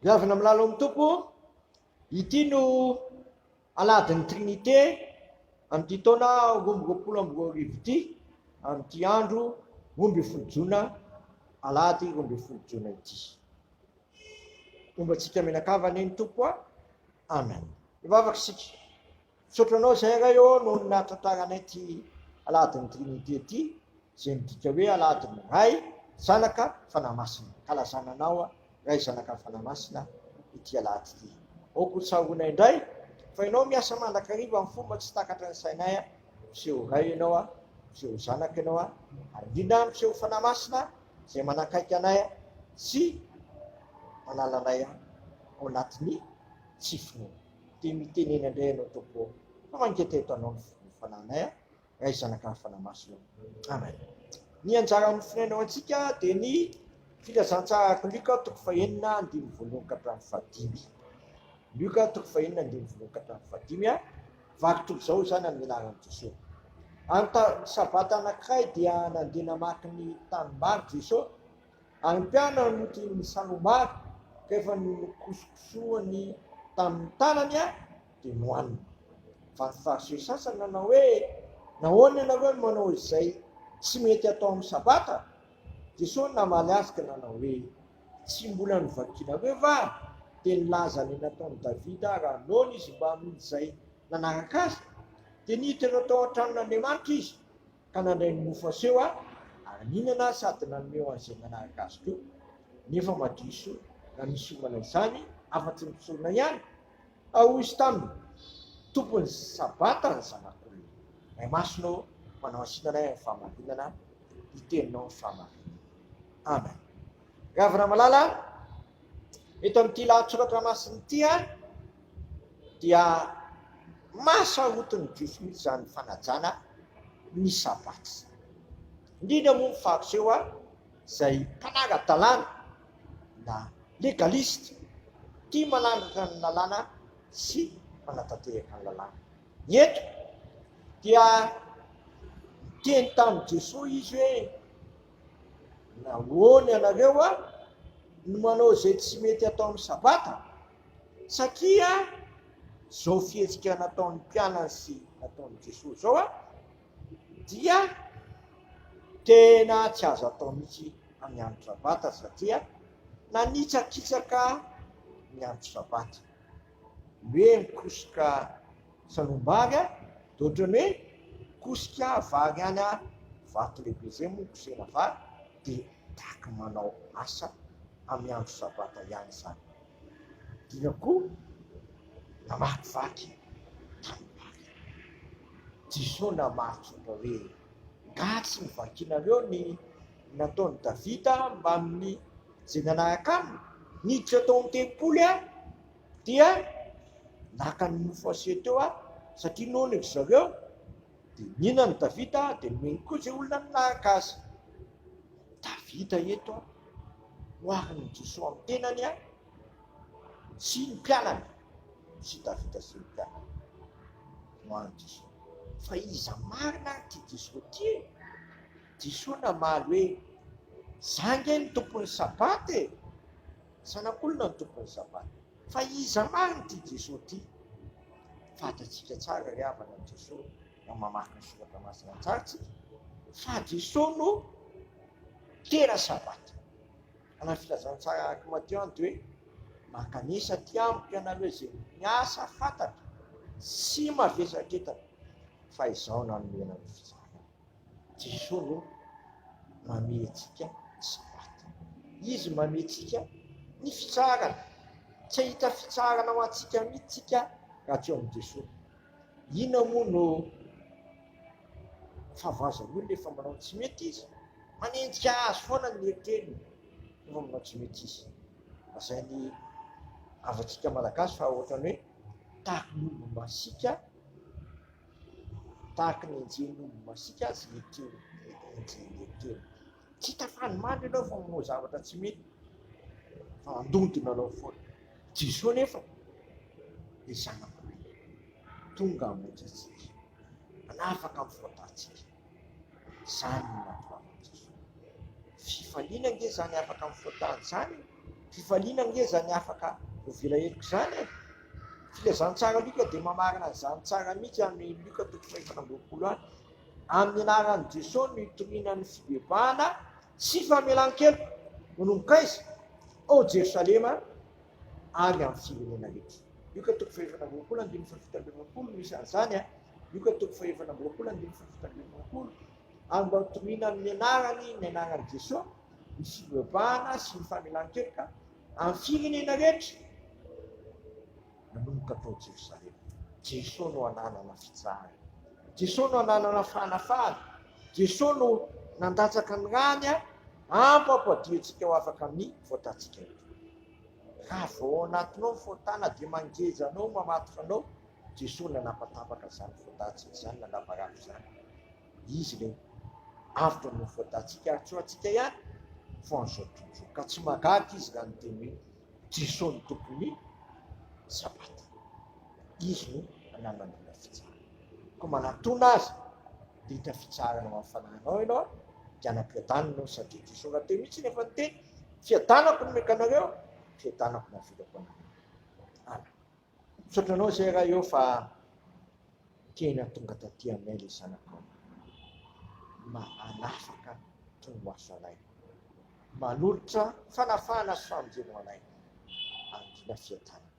Goavana amin'ny lalan'ny Tompo, ity no alahadin'ny Trinite amin'ity taona roamby roapolo amby roa arivo ity, amin'ity andro roamby folo jona, alahady roamby folo jona ity. Omba antsika mianakavana ny Tompo, amen. Ivavaka isika. Misaotra anao izay Ray ô noho ny nahatantaranay ity Alahadin'ny Trinite ity izay midika hoe Alahadin'ny Ray, Zanaka, Fanahy Masina. Ankalazana anao Ray, Zanaka, Fanahy Masina ity Alahady ity. Aoka ho tsaroanay indray fa Ianao miasa mandrakariva amin'ny fomba tsy takatry ny sainay. Miseho ho Ray Ianao, miseho ho Zanaka Ianao ary indrindra miseho ho Fanahy Masina izay manakaiky anay sy manala anay ao anatin'ny tsy finoana. Dia mitenena indray ianao Tompoko fa mangeta eto anao ny ny Fanahinay a! Ray Zanaka ary Fanahy Masina ô! Amen! Ny anjara amin'ny Firenena ho antsika dia ny Filazantsara araka Lioka toko fahenina andininy voalohany ka hatramin'ny fahadimy. Lioka toko fahenina andininy voalohany ka hatramin'ny fahadimy a! Vary toy izao izany amin'ny anaran'i Jesoa. Any ta- sabata anankiray dia nandeha namaky ny tanimbary Jesoa Any mpiana no tian'ny salombary ka efa nokosokosohany tamin'ny tanany an dia nohaniny. Vato farce sasany nanao hoe nahoana ianareo no manao izay tsy mety atao amin'ny sabata? Jesoa namaly azy ka nanao hoe tsy mbola novakianareo va dia nilaza ny nataon'i Davida raha noana izy mbamin'izay nanaraka azy? Dia niditra tao an-tranon'Andriamanitra izy ka nandray ny mofo aseho aho ary nihinana aho sady nanome ho an'izay nanaraka azy koa, nefa madiso raha misy hiomana izany afa-tsy ny mpisorona ihany, ka hoy izy taminy, Tompon'ny Sabata ny Zanak'olona, Ray Masina ô, manao hasinana ahy amin'ny fahamarinana ny teninao ny fahamarinana. Amen. Gavy Ramalala, eto amin'ity lahatsoratra masina ity dia mahasarotin'ny Jiosy mihitsy izany fanajana ny Sabata izany. Indrindra moa ny Fariseo izay mpanara-dalàna na legaliste, tia manandratra ny lalàna sy manatanteraka ny lalàna. Eto dia niteny tamin'i Jesoa izy hoe. Nahoana ianareo a no manao izay tsy mety atao amin'ny sabata? Satria izao fihetsika nataon'ny mpianany sy nataon'i Jesoa izao a dia tena tsy azo atao mihitsy amin'ny andro sabata satria nanitsakitsaka ny andro sabata hoe mikosoka Sarombary a! de otrany hoe kosika vary any a! vato lehibe zay moa kosehina vary de taky manao asa amy andro sabata ihany zany dina ko namakivaky tanimbary Jeso namaritra fa hoe nga tsy novakinareo ny nataony Davida mbamin'ny ze nanaraka aminy niditra tao am tempoly a! dia naka ny mofo asia teo aho satria noana ry zareo dia nihinan'i Davita dia nomeny koa izay olona naka azy. Davita eto oharin'i Jesoa amin'ny tenany a sy ny mpianany sy Davita sy ny mpianany oharin'i Jesoa fa iza marina ary ity Jesoa ity e? Jesoa namaly hoe za nge ny tompon'ny sabata e! Zanak'olona ny tompon'ny sabata. Fa iza marina ity Jesoa ity? Fantatsika tsara ry havana ny Jesoa raha mamaky ny soratra masina tsara tsika fa Jesoa no tena sabata. Anaty filazantsara araka i Mateo any dia hoe mankanesa aty amiko ianareo izay miasa fantatra sy mavesatretana fa izaho nanome anareo fitsarana. Jesoa aloha mamehy antsika ny sabata. Izy mamehy antsika ny fitsaharana. Tsy hahita fitsaharana ho antsika mihitsy tsika raha tsy eo amin'i Jesoa. Inona moa no fahavoazan'ny olona efa manao tsy mety izy? Manenjika azy foana ny eritreriny efa manao tsy mety izy. Lazain'ny havantsika malagasy fa ohatran'ny hoe tahaka ny olona masika Tahaka ny enjehin'omby masiaka aza i Etiena, enjehin'i Etiena. Tsy hita fa any mandry ianao fa manao zavatra tsy mety, fa handondona anao foana. Jesoa anefa dia zanak'olona, tonga hamonjy antsika, hanafaka amin'ny fahotàntsika. Izany no natoavandrosoa. Fifaliana ange izany afaka mifoha-tany izany e! Fifaliana ange izany afaka hovela heloka izany e! Filazantsara Lioka dia mamarana an'izany tsara mihitsy any Lioka toko fahefatra amby roapolo any. Amin'ny anaran'i Jesoa no itoriana ny fibebahana sy famelan-keloka. Manomboka aiza? Ao Jerosalema ary amin'ny firenena rehetra. Lioka toko fahefatra amby roapolo andininy fahafito amby roapolo misy an'izany a! Luka toko fahefatra amby roapolo andininy folo fito ambin'ny roapolo ary mba hotoriana amin'ny anarany ny anaran'i Jesoa, ny fivavahana sy ny famelan-keloka amin'ny firenena rehetra nanomboka tao Jerosalema. Jesoa no ananana fitsarana. Jesoa no ananana fanafahana. Jesoa no nandatsaka ny rany hampampadiantsika ho afaka amin'ny faotantsika rehetra. Raha vao ao anatinao ny faotana dia mangeja anao, mamatotra anao, Jesoa nanapatapaka izany fodatsiny izany, nanavarandro izany. Izy ilay avotra noho ny fodatsika ary tsy ho antsika ihany fa an'izao tontolo izao. Ka tsy mahagaga izy raha niteny hoe Jesoa no tompon'ny sabata. Izy no nanangona fitsarana. Koa manatona azy dia hita fitsarana ho an'ny fanahinao ianao dia hanam-piadanana ianao satria Jesoa raha teo mihitsy no efa niteny, fiadanako no mekanareo, fiadanako no avelako anareo. Amen. Misaotra anao zay raha eo fa tena tonga taty aminay le zanakao. Manafaka tonomaso anay. Manolotra fanafahana sy famonjena ho anay. Angina fiadanana.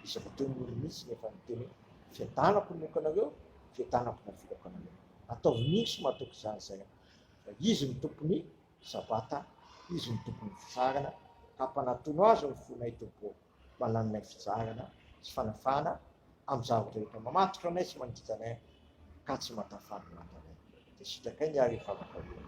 Izy rahateo no olo mihitsy no efa niteny hoe fiadanako no omeko anareo, fiadanako no avelako anareo. Ataovy mihitsy matoky izany zay an. Fa izy no tompon'ny sabata, izy no tompon'ny fitsarana ka mpanatono azy ny fonay Tompo ô. mananonay fizarana sy fanafahana am zaro rehetra mamatotra anay sy mangija anay ka tsy matafà ny matanay de sitrakay ny ary vavaka hoe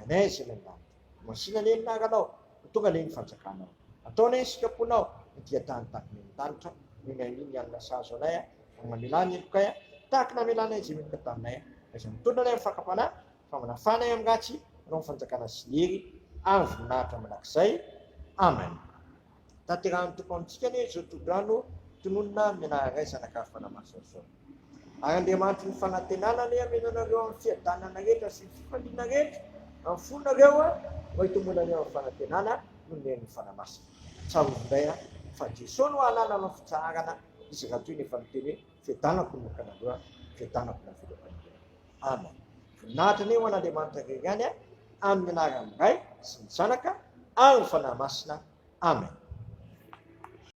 anay zay nandalo masina anie ny naranao ho tonga anie ny fanjakanao atao anie ny sikaponao ny dia tany takina eny tanitra noho ny amin ny alina sahazo anay a mamelà ny helokay a tahaka namelanay zay meloka taminay a izay mitondra anay am fakam panahy fa manafana ahy amin'ny ratsy hanao ny fanjakana sy ny hery ary voninahitra mandrakizay Amen tanterahan'ny Tompo amintsika anie izao tohodrano tononina amin'ny anaran'ny Ray Zanaka ary Fanahy Masina izao ary Andriamanitry ny fanantenana anie hameno anareo amin'ny fiadanana rehetra sy ny fifaliana rehetra amin'ny fonareo mba hitomboana anie amin'ny fanantenana noho ny herin'ny Fanahy Masina tsarovy indray a fa Jeso no hananana ny fitsaharana izy raha toa ny efa niteny hoe fiadanako no nokanareo a fiadanako no avela ho anareo Amen. Voninahitra anie ho an'Andriamanitra irery ihany a, amin'ny anaran'ny Ray sy ny Zanaka ary ny Fanahy Masina. Amen.